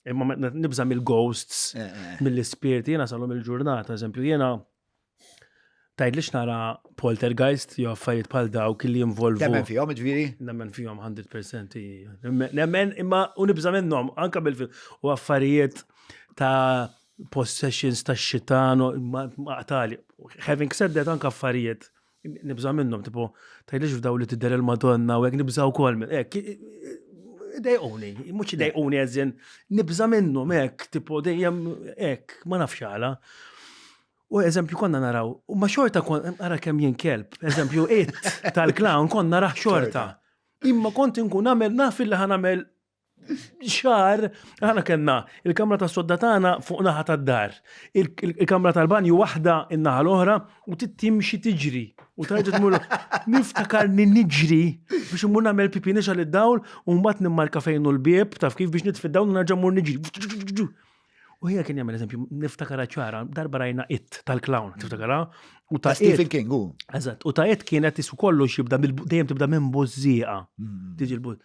Imma nibża mill-ghosts, eh, eh. mill-ispirti, jena salom il-ġurnata, eżempju, jena tajd li xnara poltergeist jew affarijiet bħal dawk li jinvolvu. Nemmen fihom, ġviri? Nemmen fihom 100%. Nemmen imma u nibża minnhom anke bil-film u affarijiet ta' possessions ta' xitan ma' qtali. Having said that anke affarijiet Nibża minnhom, tipo, tgħidlix f'daw li tidher il-Madonna u hekk nibża wkoll minn hekk. Dejquni, mhux dejquni eżin, nibża minnhom hekk, tipo dejjem hekk, ma nafx għala. U eżempju konna naraw, u ma xorta kon, ara kemm jien kelb, eżempju it tal-clown konna naraħ xorta. Imma kont inkun għamel naf li ħan għamel xar, għana kena, il-kamra ta' sodda tagħna fuq naħa ta' dar. Il-kamra tal-banju waħda in-naħa l-oħra u tittimxi tiġri. U tajġa tmur niftakar niġri biex imur nagħmel pipi nixal id-dawl u mbagħad nimmarka fejn l-bieb taf kif biex nitfid dawn u nerġa' mur niġri. U hija kien jagħmel eżempju, niftakara ċara, darba rajna it tal-clown, mm. tiftakara? U ta' Stephen King, u. Eżatt, u ta' it kienet isu kollu xibda dejjem tibda minn bużżieqa. Mm. Tiġi l-buż.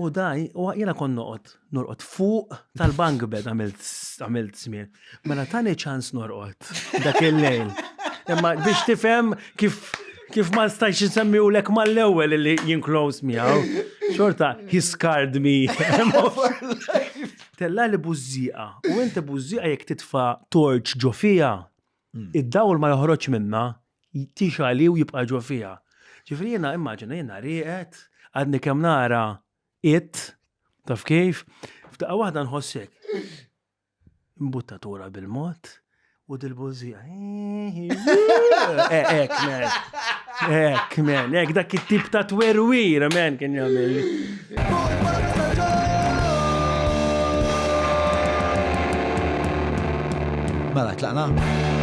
U daj, u jena kon noqot, norqot fuq tal-bank bed għamilt smir. Mela tani ċans norqot dak il-lejl. Imma biex tifem kif kif ma stajx nsemmi u lek ma l-ewel li jinklos miegħu. Xorta, he scarred me. Tellali bużżieqa u inti bużżieqa jekk titfa' torċ ġo fiha, hmm. id-dawl ma joħroġx minnha, tixali u jibqa' ġo fiha. Ġifri jiena immaġina jiena rieqed, għadni kemm nara it, taf kif, f'daqqa waħda nħossek. Mbuttatura bil-mod, U dil-bużija. Ek, men. Ek, men. Ek, dak it-tip ta' twerwir, men, kien jagħmel. Mela, tlaqna?